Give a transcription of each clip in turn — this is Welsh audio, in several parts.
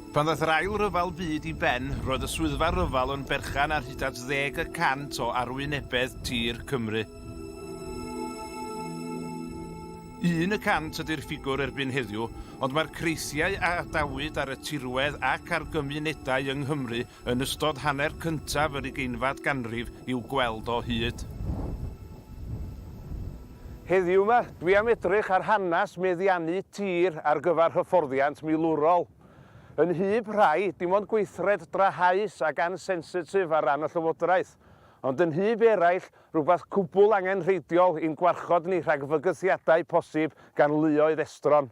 Pan ddaeth yr Ail Ryfel Byd i ben, roedd y Swyddfa Ryfel yn berchen ar hyd at ddeg y cant o arwynebedd tir Cymru. Un y cant ydy'r ffigwr erbyn heddiw, ond mae'r creithiau a adawyd ar y tirwedd ac ar gymunedau yng Nghymru yn ystod hanner cyntaf yr ugeinfad ganrif i'w gweld o hyd. Heddiw 'ma, dwi am edrych ar hanes meddiannu tir ar gyfer hyfforddiant milwrol. Yn nhyb rhai, dim ond gweithred drahaus ac ansensitif ar ran y Llywodraeth, ond yn nhyb eraill, rhywbeth cwbl angenrheidiol i'n gwarchod ni rhag fygythiadau posib gan luoedd estron.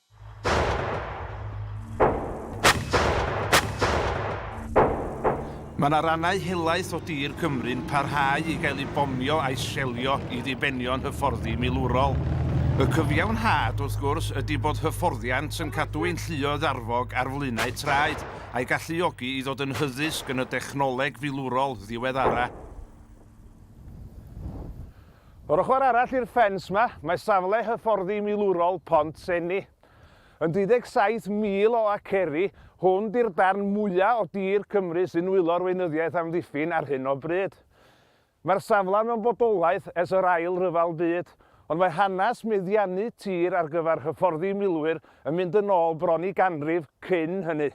Mae yna rannau helaeth o dir Cymru'n parhau i gael eu bomio a'u selio i ddibenion hyfforddi milwrol. Y cyfiawnhad, wrth gwrs, ydy bod hyfforddiant yn cadw ein lluoedd arfog ar flaenau traed, a'i galluogi i ddod yn hyddysg yn y dechnoleg filwrol ddiweddara'. O'r ochr arall i'r ffens 'ma, mae safle hyfforddi milwrol Pont Seni. Yn 27 mil o aceri, hwn 'di'r darn mwya' o dir Cymru sy'n nwylo'r weinyddiaeth amddiffyn ar hyn o bryd. Mae'r safle mewn bodolaeth ers yr Ail Ryfel Byd, ond mae hanes meddiannu tir ar gyfer hyfforddi milwyr yn mynd yn ôl bron i ganrif cyn hynny.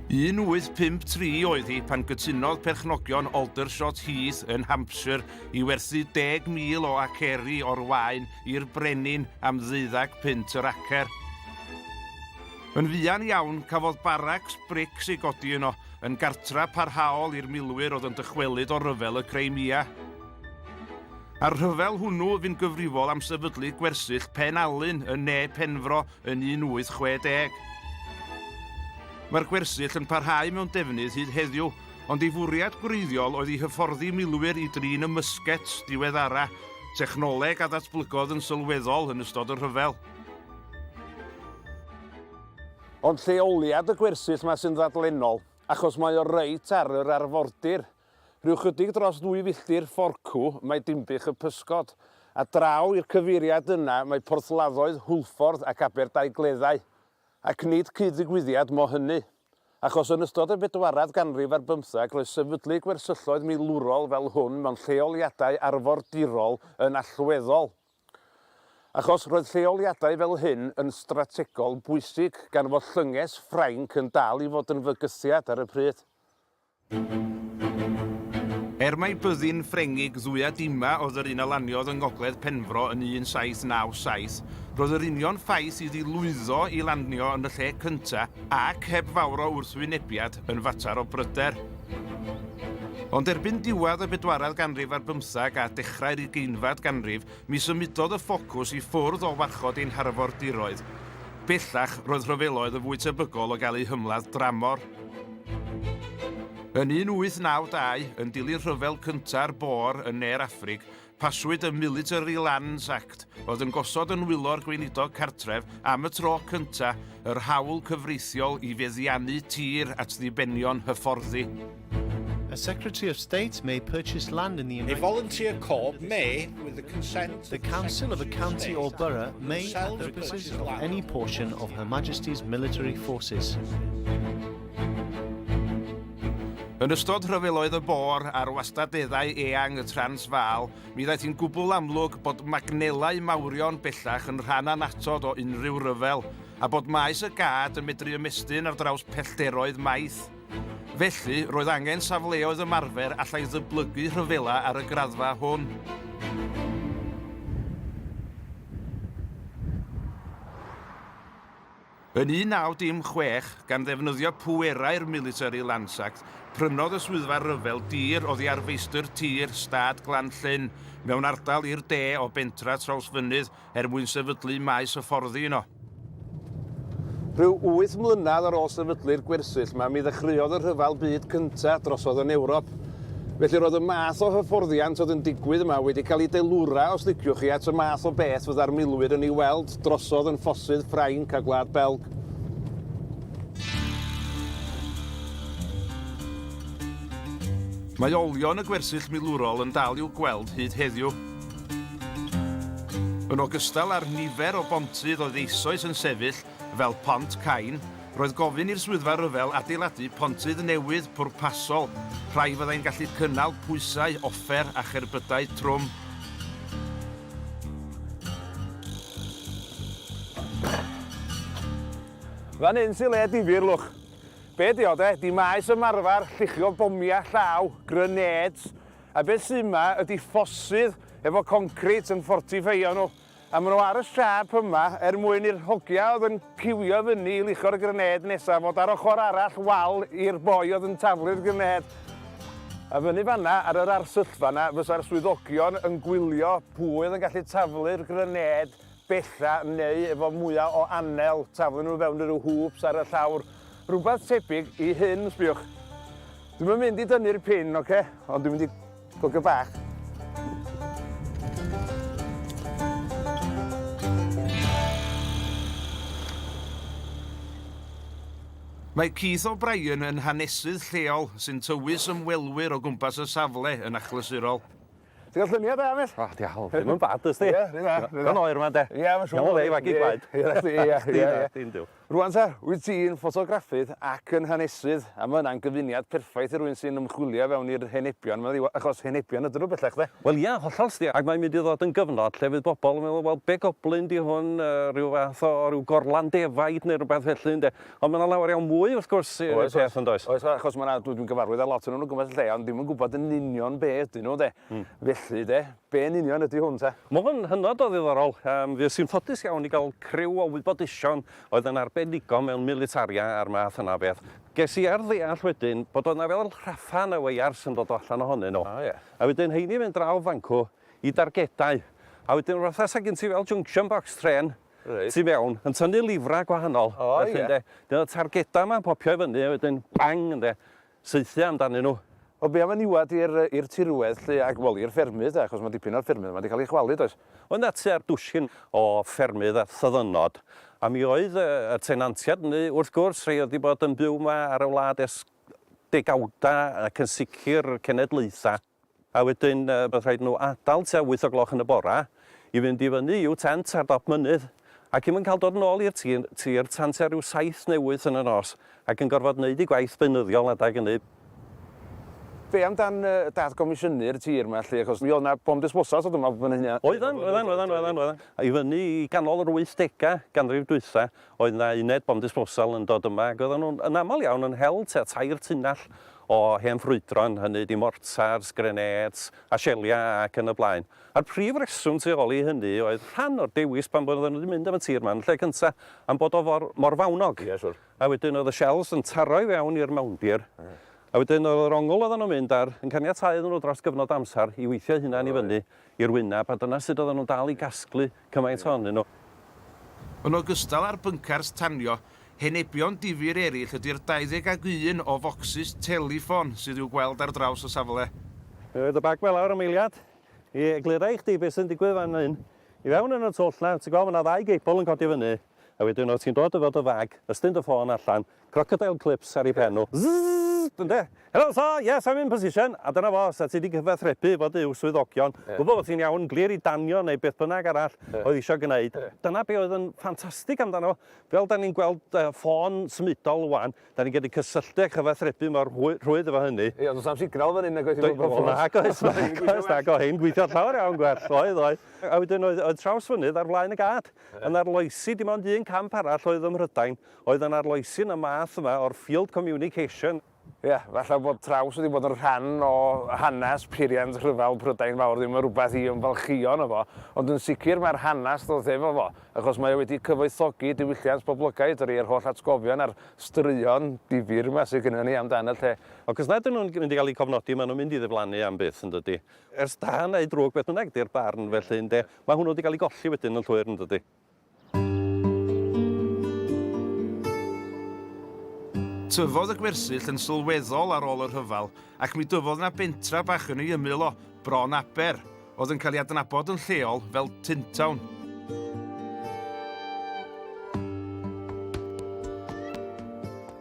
1853 oedd hi pan gytunodd perchnogion Aldershot Heath yn Hampshire i werthu 10,000 o aceri o'r waen i'r brenin am ddeuddag punt yr acer. Yn fuan iawn, cafodd baracs brics ei godi yno, yn gartra parhaol i'r milwyr oedd yn dychwelyd o ryfel y Crimea. A'r rhyfel hwnnw fu'n gyfrifol am sefydlu gwersyll Pen Alun yn ne Penfro yn 1860. Mae'r gwersyll yn parhau mewn defnydd hyd heddiw, ond ei fwriad gwreiddiol oedd i hyfforddi milwyr i drin y mysgets diweddara, technoleg a ddatblygodd yn sylweddol yn ystod y rhyfel. Ond lleoliad y gwersyll 'ma sy'n ddadlennol, achos mae o reit ar yr arfordir. Rhyw chydig dros ddwy filltir fforcw mae Dinbych y Pysgod, a draw i'r cyfeiriad yna mae porthladdoedd Hwlffordd ac Aberdaugleddau. Ac nid cyd-ddigwyddiad mo hynny. Achos yn ystod y bedwaredd ganrif ar bymtheg roedd sefydlu gwersylloedd milwrol fel hwn mewn lleoliadau arfordirol yn allweddol. Achos roedd lleoliadau fel hyn yn strategol bwysig gan fod llynges Ffrainc yn dal i fod yn fygythiad ar y pryd. Er mai byddin Ffrengig Dduya Dima oedd yr un a laniodd yng ngogledd Penfro yn 1797, roedd yr union ffaith iddi lwyddo i lanio yn y lle cyntaf ac heb fawr o wrthwynebiad yn fater o bryder. Ond erbyn diwedd y bedwaredd ganrif ar bymtheg a dechrau'r ugeinfed ganrif, Mi symudodd y ffocws i ffwrdd o warchod ein harfordiroedd. Bellach, roedd rhyfeloedd yn fwy tebygol o gael eu hymladd dramor. Yn 1892, yn dilyn rhyfel cynta'r Boer yn ne'r Affrig, paswyd y Military Lands Act, oedd yn gosod yn nwylo'r gweinidog cartref, am y tro cyntaf, yr hawl cyfreithiol i feddiannu tir at ddibenion hyfforddi. A Secretary of State may purchase land in the United A volunteer corps may, with the consent The council of a county or borough may, at the purposes of any portion of Her Majesty's military forces. Yn ystod rhyfeloedd y bor ar wastadeddau eang y Transvaal, mi ddaeth i'n gwbl amlwg bod magnelau mawrion bellach yn rhan anatod o unrhyw ryfel, a bod maes y gad yn medru ymestyn ar draws pellderoedd maith. Felly, roedd angen safleoedd ymarfer allai ddyblygu rhyfela ar y graddfa hwn. Yn 1916, gan ddefnyddio pwerau'r Military Lands Act, prynodd y Swyddfa Rhyfel dir oddi ar feistr tir Stad Glan Llyn, mewn ardal i'r de o bentref Trawsfynydd, er mwyn sefydlu maes hyfforddi yno. Rhyw wyth mlynedd ar ôl sefydlu'r gwersyll 'ma, mi ddechreuodd y Rhyfel Byd Cyntaf drosodd yn Ewrop. Felly roedd y math o hyfforddiant oedd yn digwydd yma wedi cael ei delura, os liciwch chi, at y math o beth fydda'r milwyr yn ei weld drosodd yn ffosydd Ffrainc a Gwlad Belg. Mae olion y gwersyll milwrol yn dal i'w gweld hyd heddiw. Yn ogystal â'r nifer o bontydd oedd eisoes yn sefyll, fel Pont Cain, roedd gofyn i'r Swyddfa Ryfel adeiladu pontydd newydd pwrpasol, rhai fyddai'n gallu cynnal pwysau offer a cherbydau trwm. Fan hyn sy le difyr, lwch. Be' 'di o, 'de? 'Di maes ymarfer lluchio bomia' llaw, grenades, A beth sy' 'ma ydi ffossydd efo concrit yn ffortifeio nhw, a ma' nhw ar y siâp yma er mwyn i'r hogia' oedd yn ciwio i fyny i luchio'r grenêd nesa' fod ar ochr arall wal i'r boi oedd yn taflu'r grenêd. A fyny fan'na ar yr arsyllfa 'na fysa'r swyddogion yn gwylio pwy oedd yn gallu taflu'r grenêd bella, neu efo mwya o anel, taflu nhw i fewn i ryw hwps ar y llawr, rhywbeth tebyg i hyn, sbïwch. Dwi'm yn mynd i dynnu'r pin, oce, ond dwi'n mynd i gogio bach. Mae Keith O'Brien yn hanesydd lleol sy'n tywys ymwelwyr o gwmpas y safle yn achlysurol. Ti'n cael lluniau da, Miss? O, diawl, ddim yn bad, ysdi? Ie, rydw dda, rydw dda. Gan oer yma, de? Ie, mae'n siŵr. Iawn, le i fagu gwaed. Ie, ie, ie. Dim diw. Rwan ta, wyt ti'n ffotograffydd ac yn hanesydd, a mae yna'n gyfuniad perffaith i rwy'n sy'n ymchwilio fewn i'r henebion, mae'n ddiwa, achos henebion ydyn nhw bellach, de? Wel, ie, hollol, sti, ac mae'n mynd i ddod yn gyfnod lle fydd bobl yn meddwl, wel, be goblyn di hwn, uh, rhyw fath o ryw gorlan defaid neu rhywbeth felly, ynde? Ond mae 'na lawer iawn mwy, wrth gwrs, i wneud peth, yn does? Oes, achos mae 'na... dwi 'di gyfarfod â lot ohonyn nhw o gwmpas y lle, ond ddim yn gwybod yn union be ydyn nhw, de. Felly, de, be yn union ydy hwn, te? Mae hwn hynod o ddiddorol. Yym, fues i'n ffodus iawn i gael criw o wybodaethon oedd yn arbenigo mewn militaria a'r math yna o beth. Ges i ar ddeall wedyn bod oedd 'na fel rhatha neu weiars yn dod o allan ohonyn nhw. O, ie. A wedyn rheini'n mynd draw fan 'cw i dargedau. A wedyn fatha 'sa gen ti fel junction box trên, Reit. Tu fewn, yn tynnu lifrau gwahanol. O ie. Felly ynde, dyna y targedau yma'n popio i fyny a wedyn bang ynde, saethu amdanyn nhw. Wel be am y niwed i'r i'r tirwedd 'lly ac wel i'r ffermydd de achos mae dipyn o'r ffermydd yma 'di cael ei chwalu does? Oedd 'na tua dwsin o ffermydd a thyddynod a mi oedd y y tenantiaid hynny wrth gwrs rhei oedd 'di bod yn byw 'ma ar y wlad ers degawdau ac yn sicr cenedlaethau. A wedyn bydd rhaid nhw adael tua wyth o gloch yn y bora i fynd i fyny i'w tent ar dop mynydd, ac i'm yn cael dod yn ôl i'r tir tan tua ryw saith neu wyth yn y nos, ac yn gorfod neud eu gwaith beunyddiol adeg ynny. Be am dan dad-gomisiynu'r tir ma lly, achos mi oedd na bom disposal so dwi'n meddwl bod hynna... Oeddan, oeddan, oeddan, oeddan, oeddan. I fyny i ganol yr wythdega ganrif dwytha, Oedd 'na uned bomb disposal yn dod yma ac oedden nhw'n yn aml iawn yn hel tua tair tunnell o hen ffrwydron, hynny ydi mortars, grenêts a sieliau ac yn y blaen. A'r prif reswm tu ôl i hynny oedd rhan o'r dewis pam oedden nhw wedi mynd am y tir 'ma yn y lle cynta am bod o for mor fawnog. Ie, siŵr. A wedyn oedd y shells yn taro i fewn i'r mawndir a wedyn oedd yr ongl oedden nhw'n mynd ar yn caniatáu iddyn nhw dros gyfnod o amser i weithio'u hunain i fyny i'r wyneb a dyna sut oedden nhw'n dal i gasglu Cymaint ohonyn nhw. Yn ogystal â'r byncars tanio, henebion difyr eraill ydy'r 21 o focsys teleffon sydd i'w gweld ar draws y safle. Mi roedd y bag ma lawr am eiliad i eglura i chdi beth sy'n digwydd fan hyn. I fewn yn y twll 'na, ti'n gweld ma' 'na ddau geibl yn codi fyny, a wedyn o' ti'n dod efo dy fag, ystyn dy ffôn allan, Crocodile clips ar ei phen nhw. Zzzzzzzzzzzzzzzzzzz! Ynde? Helo sir, yes I'm in position! A dyna fo, sa ti 'di cyfathrebu efo dy swyddogion, gwybod bod ti'n iawn, glir i danio neu beth bynnag arall oedd isio gwneud, dyna be oedd yn ffantastig amdano fo, fel 'da ni'n gweld ffôn symudol ŵan, 'da ni'n gallu cysylltu a chyfathrebu mor rhwydd efo hynny. Ie, ond does na'm signal fan hyn nagoes i fod mor onest. Nag oes, nag oes, nag oedd hyn gweithio'n llawer iawn gwell, oedd, oedd. A wedyn oedd Trawsfynydd ar flaen y gad, a 'na'r loesi dim ond un camp arall oedd ym Mhrydain, Oedd yn arloesi'n y math yma o'r field communication. Ie, falle bod traws wedi bod yn rhan o hanes peiriant rhyfel Prydain Fawr ddim yn rhywbeth i ymfalchïo yno fo, ond yn sicr mae'r hanes ddoth efo fo, achos mae o wedi cyfoethogi diwylliant poblogaidd yr ieir holl atgofion a'r straeon difyr yma sydd gynnon ni amdan y lle. Ac os nad ydyn nhw'n mynd i gael eu cofnodi, maen nhw'n mynd i ddiflannu am byth, yn dydi? Ers da neu drwg, beth bynnag ydy'r barn, felly, ynde, mae hwnnw wedi cael ei golli wedyn yn llwyr, yn dydi? Tyfodd y gwersyll yn sylweddol ar ôl y rhyfel ac mi dyfodd yna bentra bach yn ei ymyl o, Bron Aber, oedd yn cael ei adnabod yn lleol fel Tintown.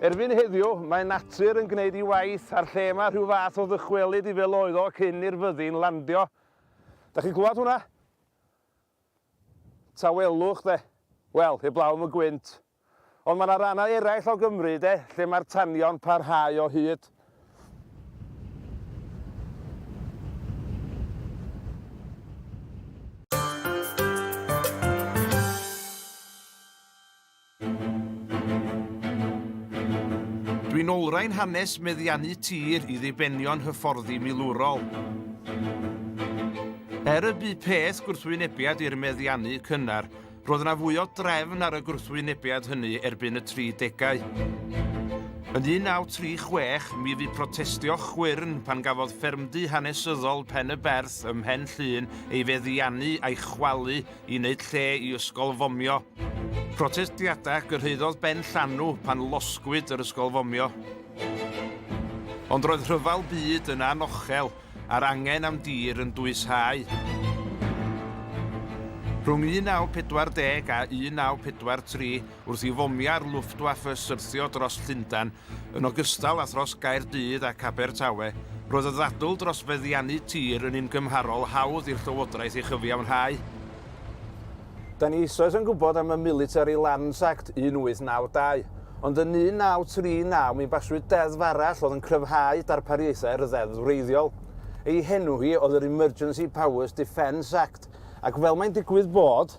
Erbyn heddiw, mae natur yn gwneud ei waith a'r lle yma rhyw fath o ddychwelyd i fel oedd o cyn i'r fyddin landio. Da chi'n clywed hwnna? Tawelwch, de. Wel, heblaw am y gwynt. Ond mae 'na rannau eraill o Gymru, de, lle mae'r tanio'n parhau o hyd. Dwi'n olrhain hanes meddiannu tir i ddibenion hyfforddi milwrol. Er y bu peth gwrthwynebiad i'r meddiannu cynnar, roedd yna fwy o drefn ar y gwrthwynebiad hynny erbyn y 30au. Yn 1936, mi fu protestio chwyrn pan gafodd ffermdy hanesyddol Pen-y-berth ym Mhen Llŷn ei feddiannu a'i chwalu i wneud lle i ysgol fomio. Protestiadau gyrhaeddodd ben llanw pan losgwyd yr ysgol fomio. Ond roedd rhyfel byd yn anochel a'r angen am dir yn dwyshau. Rhwng 1940 a 1943, wrth i fomiau'r Luftwaffe syrthio dros Llundain, yn ogystal â thros Gaerdydd ac Abertawe, roedd y ddadl dros feddiannu tir yn un gymharol hawdd i'r Llywodraeth ei chyfiawnhau. Da ni eisoes yn gwybod am y Military Lands Act 1892, ond yn 1939 mi baswyd deddf arall oedd yn cryfhau darpariaethau'r ddeddf wreiddiol. Ei henw hi oedd yr Emergency Powers Defence Act, ac fel mae'n digwydd bod,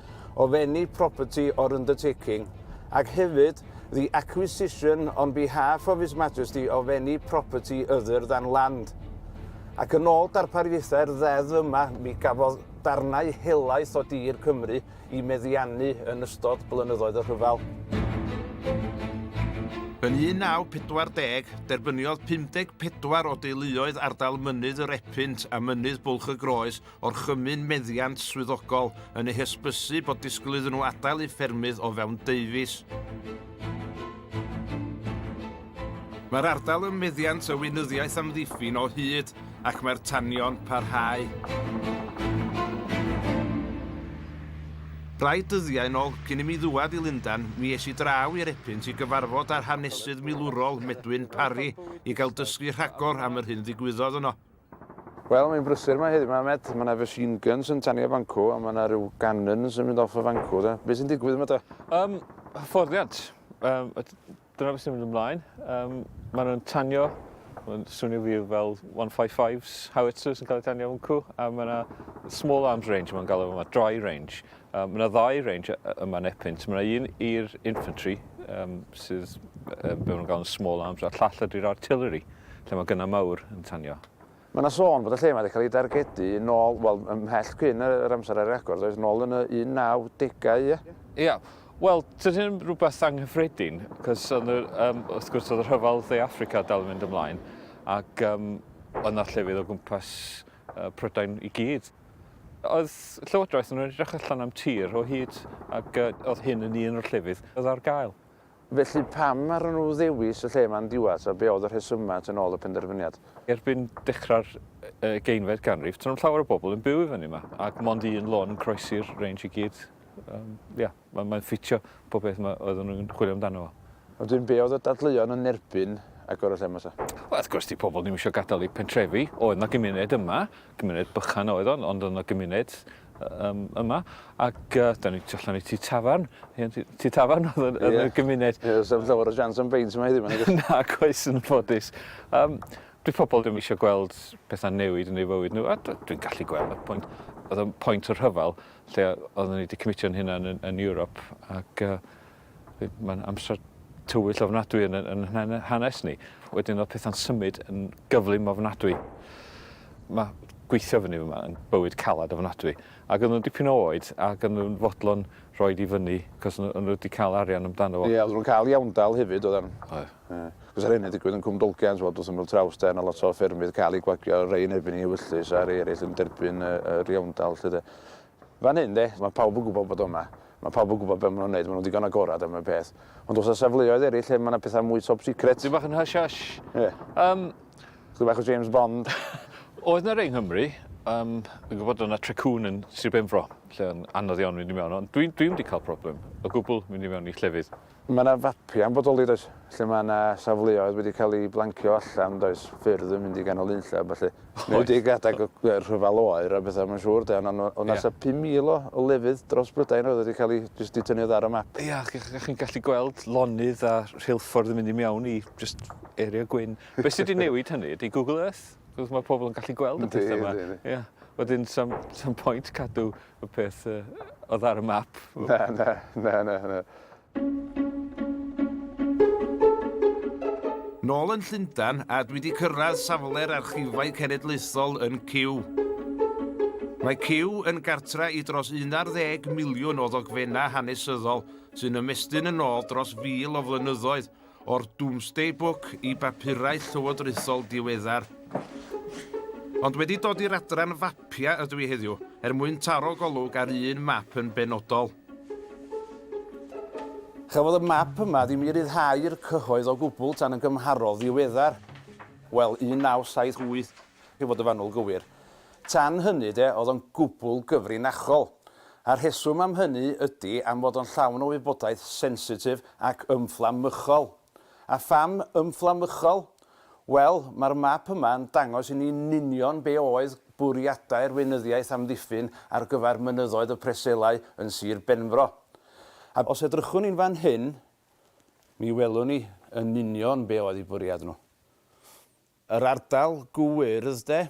of any property or undertaking, ac hefyd, the acquisition on behalf of His Majesty of any property other than land. Ac yn ôl darpariaethau'r ddeddf yma, mi gafodd darnau helaeth o dir Cymru i meddiannu yn ystod blynyddoedd y rhyfel. Yn 1940, derbyniodd 54 o deuluoedd ardal Mynydd yr Epynt a Mynydd Bwlch y Groes orchymyn meddiant swyddogol yn eu hysbysu bod disgwyl iddyn nhw adael eu ffermydd o fewn deufis. Mae'r ardal ym meddiant y weinyddiaeth amddiffyn o hyd ac mae'r tanion parhau. Rai dyddiau yn ôl, cyn i mi ddwad i Lundan, mi es i draw i'r Epynt i gyfarfod â'r hanesydd milwrol Medwyn Parry i gael dysgu rhagor am yr hyn ddigwyddodd yno. Wel, mae'n brysur 'ma heddiw 'ma, Med. Mae 'na machine guns yn tanio bancw, a mae 'na ryw gannons yn mynd off y fancw, de. Be' sy'n digwydd 'ma te? Yym, hyfforddiant. Yym, a dyna beth sy'n mynd ymlaen. Yym, mae nhw'n tanio, mae'n swnio wir fel 155s, howitzers yn cael eu tanio fancw, a mae 'na small arms range, mae'n galw fo 'ma, dry range. Um, mae yna ddau range yma yn Epynt. Mae yna un i'r infantry, um, sydd um, be maen gael yn small arms, a llall ydy'r artillery, lle mae gynnau mawr yn tanio. Mae yna sôn bod y lle mae wedi cael ei dargedu yn ôl, wel, ymhell cyn yr amser ar agor, doedd yn ôl yn y 1910au, ie? Ie, wel, dyn hyn rhywbeth anghyffredin, cos um, wrth gwrs oedd y rhyfel dde Africa dal yn mynd ymlaen, ac um, oedd yna llefydd o gwmpas uh, Prydain i gyd. Oedd Llywodraeth yn edrych allan am tir o hyd ac oedd hyn yn un o'r llefydd oedd ar gael. Felly pam arnyn nhw ddewis y lle ma'n diwat a be oedd y rhesymau tu nôl y penderfyniad? Erbyn dechrau'r ugeinfed ganrif, do'n i'm llawer o bobl yn byw i fyny yma ac mond un lôn yn croesi'r range i gyd. Ia. Mae, mae'n ffitio pob peth ma oedden nhw'n chwilio amdano fo. Wedyn be oedd y dadleuon yn erbyn agor y lle ma ta? Wel wrth gwrs di pobl ddim isio gadael eu pentrefi, oedd na gymuned yma, cymuned bychan oedd o ond oedd na gymuned yym yma ac yy da ni tu allan i tŷ tafarn, hen tŷ tŷ tafarn oedd yn yn y gymuned. Ie, sa'm llawer o siawns am beint yma heddiw ma nagos? Nag oes yn ffodus. Yym dyw pobl ddim isio gweld petha'n newid yn eu fywyd nhw a dw- dwi'n gallu gweld y pwynt. Oedd o'n point o rhyfel lle oedden ni 'di cymitio'n hunan yn yn Ewrop ac yy we- ma'n amser tywyll ofnadwy yn y yn hane- hanes ni. Wedyn o'dd petha'n symud yn gyflym ofnadwy. Ma' gweithio fynny fyma yn bywyd calad ofnadwy ag o'n nw'n dipyn o oed ag o'n nw'n fodlon rhoid i fyny 'c'os o' n'w o' n'w 'di ca'l arian amdano fo. Ie o'dd nw'n ca'l iawndal hefyd oddan. Oedd. Achos ar hyn yn digwydd yn Cwm Dolgent, wel, does dim fel Trawsden a lot o ffermydd cael eu gwagio, rhai yn erbyn ei ewyllys a rhai eraill yn derbyn yr iawndal, 'lly de. Fan hyn, de, mae pawb yn gwybod bod o yma. Mae pawb yn gwybod beth maen nhw'n wneud, maen nhw'n ddigon agored am y peth. Ond oes 'na safleoedd eraill lle mae 'na pethau mwy top secret? Dipyn bach yn hush hush. Ie. Yym. Chydig bach o James Bond. Oedd 'na rei yng Nghymru. Yym, fi'n gwybod bod yna Trecŵn yn Sir Benfro, lle oedd o'n anodd iawn mynd i mewn, ond dwi dwi ddim wedi cael problem o gwbl mynd i mewn i llefydd. Mae yna fapiau'n bodoli does, lle mae yna safleoedd wedi cael eu blancio allan does, ffyrdd yn mynd i ganol unlle a ballu. Oes. Neu wedi gadag y rhyfel oer a bethau mae'n siŵr de, ond ond ond yeah. asa 5,000 o, o lefydd dros Brydain oedd wedi cael ei jyst di tynnu ar y map. Ia, yeah, chi'n chi gallu gweld lonydd a rheilffordd yn mynd i mewn i just area gwyn. Be sydd wedi newid hynny ydy Google Earth. Mae pobl yn gallu gweld y pethau yma. Ia. Wedyn, sam, sam pwynt cadw y peth uh, oedd ar y map. Na, na, na, na, na. Nôl yn Llundan a dwi wedi cyrraedd safle'r archifau cenedlaethol yn Cyw. Mae Cyw yn gartra i dros 11 miliwn o ddogfennau hanesyddol sy'n ymestyn yn ôl dros fil o flynyddoedd o'r Domesday Book i bapurau llywodraethol diweddar. Ond wedi dod i'r adran fapiau ydw i heddiw, er mwyn taro golwg ar un map yn benodol. Chafodd y map yma ddim i ryddhau'r cyhoedd o gwbl tan yn gymharol ddiweddar, wel, 1978. I fod yn fanwl gywir. Tan hynny de, oedd o'n gwbl gyfrinachol. A'r rheswm am hynny ydi am fod o'n llawn o wybodaeth sensitif ac ymfflamychol. A pham ymfflamychol? Wel, mae'r map yma yn dangos i ni'n union be oedd bwriadau'r Weinyddiaeth Amddiffyn ar gyfer mynyddoedd y Preselau yn Sir Benfro. A os edrychwn ni'n fan hyn, mi welwn ni yn union be oedd eu bwriad nhw. Yr ardal gwyrdd de,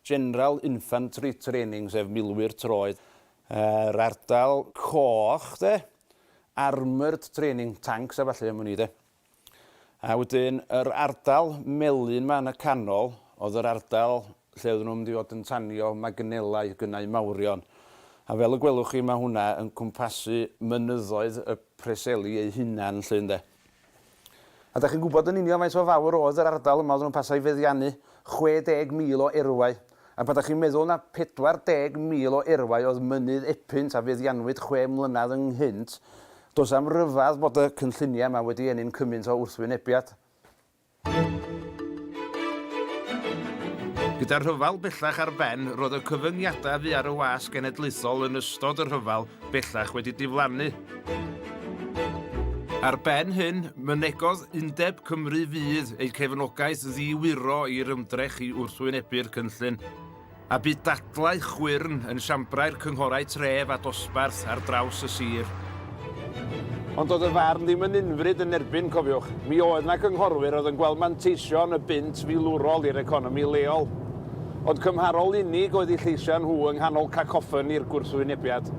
General Infantry Training sef milwyr troed. Yr ardal coch de, Armoured Training, tancs a ballu am wn i de. A wedyn yr ardal melyn 'ma yn y canol oedd yr ardal lle oedden nhw'n mynd i fod yn tanio magnelau, gynnau mawrion. A fel y gwelwch chi mae hwnna yn cwmpasu mynyddoedd y Preseli eu hunain 'lly ynde. A dach chi'n gwybod yn union faint mor fawr oedd yr ardal yma oedden nhw'n pasio i feddiannu 60,000 o erwau? A pan dach chi'n meddwl na 40,000 o erwau oedd Mynydd Epynt a feddiannwyd chwe mlynedd ynghynt, does 'na'm rhyfedd bod y cynlluniau yma wedi ennyn cymaint o wrthwynebiad. Gyda'r rhyfel bellach ar ben, roedd y cyfyngiadau fu ar y wasg genedlaethol yn ystod y rhyfel bellach wedi diflannu. Ar ben hyn, mynegodd Undeb Cymru Fydd eu cefnogaeth ddiwyro i'r ymdrech i wrthwynebu'r cynllun. a bu dadlau chwyrn yn siambrau'r cynghorau tref a dosbarth ar draws y sir. Ond doedd y farn ddim yn unfryd yn erbyn, cofiwch. Mi oedd 'na gynghorwyr oedd yn gweld manteision y bunt filwrol i'r economi leol. Ond cymharol unig oedd eu lleisiau nhw yng nghanol cacoffoni'r gwrthwynebiad.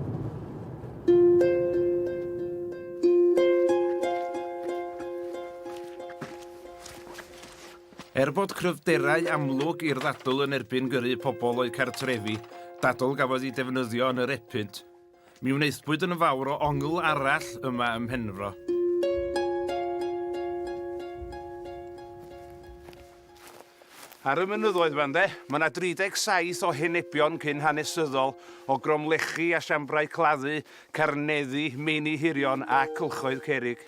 Er bod cryfderau amlwg i'r ddadl yn erbyn gyrru pobl o'u cartrefi, dadl gafodd ei defnyddio yn yr epynt. Mi wnaethpwyd yn fawr o ongl arall yma ym Mhenfro. Ar y mynyddoedd yma, ynde, mae yna 37 o henebion cyn hanesyddol o gromlechi a siambrau claddu, carneddi, meini hirion a cylchoedd cerrig.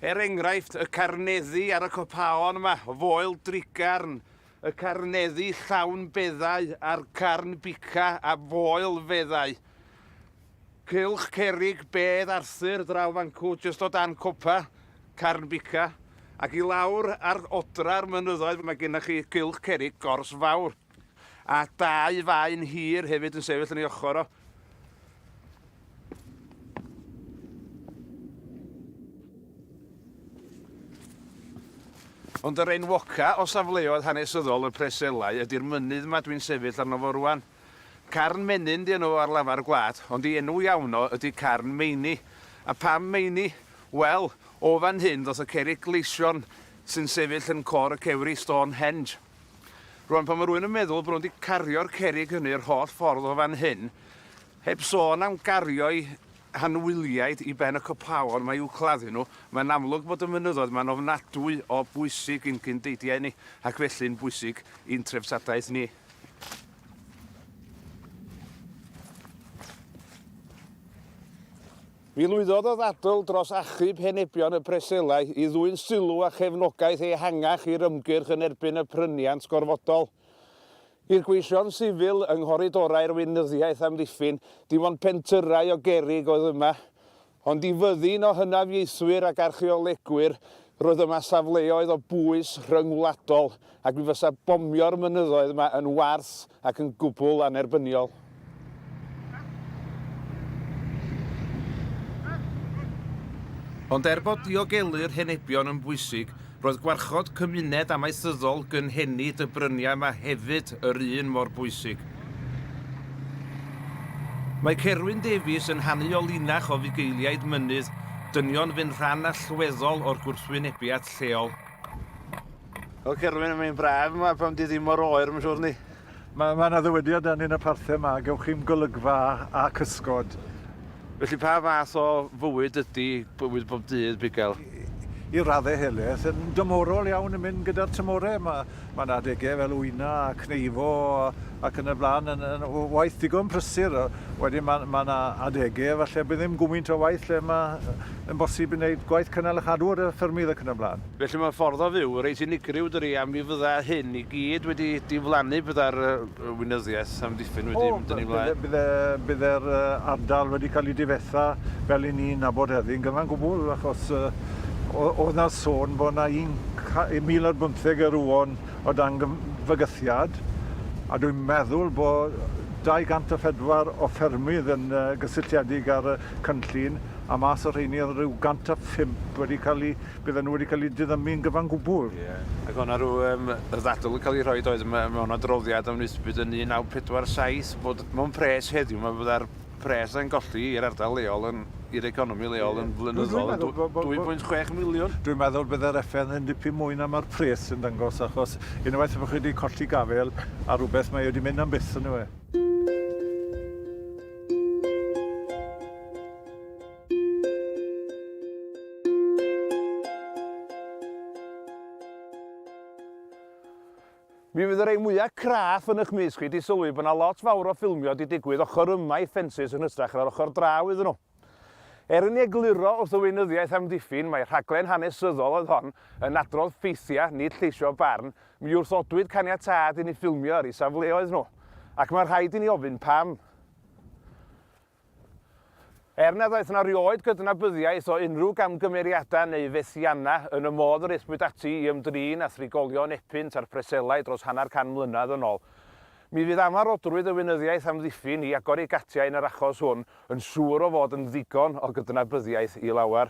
Er enghraifft, y carneddi ar y copaon yma, o foel drigarn, y carneddi llawn beddau a'r carn bica a foel feddau. Cylch cerrig bedd Arthur draw fancw jyst o dan copa Carn Bica ac i lawr ar odra'r mynyddoedd mae gennych chi gylch cerrig Gors Fawr a dau faen hir hefyd yn sefyll yn ei ochr o. Ond yr enwoca o safleoedd hanesyddol y Preselau ydy'r mynydd yma dwi'n sefyll arno fo rwan. Carn Menyn 'di enw fo ar lafar y gwlad, ond ei enw iawn o ydi Carn Meini. A pam Meini? Wel, o fan hyn ddoth y cerrig gleision sy'n sefyll yn cor y cewri, Stonehenge. Rŵan, pan mae rhywun yn meddwl bod nhw wedi cario'r cerrig hynny yr holl ffordd o fan hyn, heb sôn am gario'i hanwyliaid i ben y copaon 'ma i'w claddu nhw, mae'n amlwg bod y mynyddoedd 'ma'n ofnadwy o bwysig i'n cyn-deidiau ni, ac felly'n bwysig i'n treftadaeth ni. Mi lwyddodd y ddadl dros achub henebion y Breselau i ddwyn sylw a chefnogaeth ehangach i'r ymgyrch yn erbyn y pryniant gorfodol. I'r gweision sifil yng nghoridorau'r weinyddiaeth amddiffyn, dim ond pentyrrau o gerrig oedd yma. Ond i fyddin o hynafiaethwyr ac archeolegwyr, roedd yma safleoedd o bwys rhyngwladol ac mi fysa bomio'r mynyddoedd yma yn warth ac yn gwbl annerbyniol. Ond er bod diogelu'r henebion yn bwysig, Roedd gwarchod cymuned amaethyddol gynhenid y bryniau yma hefyd yr un mor bwysig. Mae Cerwyn Davies yn hanu o linach o fugeiliaid mynydd, dynion fu'n rhan allweddol o'r gwrthwynebiad lleol. O Cerwyn, mae'n braf yma pan dydd hi mor oer, mae'n siŵr yndi? Mae mae 'na ddywediad dan yn y parthed 'ma, gewch chi'm golygfa a cysgod. Felly pa fath o fywyd ydi bywyd bob dydd bugail? I radde helaeth yn dymorol iawn yn mynd gyda'r tymore, ma' ma' 'na adege fel wyna a cneifo a ac yn y bla'n yn yn w- waith digon prysur yy wedyn ma' ma' 'na adege falle bydd ddim gwmynt o waith lle ma' yy yn bosib i neud gwaith cynnal a chadw ar y ffermydd ac yn y bla'n. Felly mae ffordd o fyw reit unigryw dydi a mi fydda hyn i gyd wedi diflannu bydda'r yy weinyddiaeth amddiffyn wedi O mynd yn ei flaen. bydde bydde bydde'r yy ardal wedi cael ei difetha fel i ni'n nabod heddi yn gyfan gwbwl achos yy o- o'dd na sôn bo' na un ca- yy mil ar bymtheg yr won o dan gym- fygythiad a dwi'n meddwl bo' dau gant a phedwar o ffermydd yn yy gysylltiedig â'r yy cynllun a mas o rheiny o'dd ryw gant a phump wedi ca'l i Bydden nhw wedi cael eu diddymu yn gyfan gwbl. Ie. Ac o'na rhyw yym ddadl yn cael ei rhoi doedd me- mewn adroddiad am Nisbet yn 1947 bod mewn pres heddiw ma' fydda'r pres yna'n golli i'r ardal leol yn i'r economi leol yn flynyddol yn dwy- dwy pwynt chwech miliwn. Dwi'n meddwl bydde'r effaith yn dipyn mwy na ma'r pres sy'n dangos achos unwaith y bo' chi 'di colli gafael ar rwbeth mae o 'di mynd am byth on'd yw e? Mi fydd y rei mwyaf craff yn eich mis chi wedi sylwi bod yna lot fawr o ffilmio wedi digwydd ochr yma i ffensys yn hystrach na'r ochr draw iddyn nhw. Er yn ei egluro wrth y weinyddiaeth amddiffyn mae rhaglen hanesyddol oedd hon yn adrodd ffeithiau, nid lleisio barn, mi wrthodwyd caniatâd i ni ffilmio ar eu safleoedd nhw. Ac mae'n rhaid i ni ofyn pam. Er nad oes yna rioed gydnabyddiaeth o unrhyw gamgymeriadau neu fethiannau yn y modd yr aethpwyd ati i ymdrin â thrigolion Epynt a'r Preselau dros hanner can mlynedd yn ol, mi fydd amarhodrwydd y Weinyddiaeth Amddiffyn i agor ei gatiau yn yr achos hwn yn siŵr o fod yn ddigon o gydnabyddiaeth i lawer.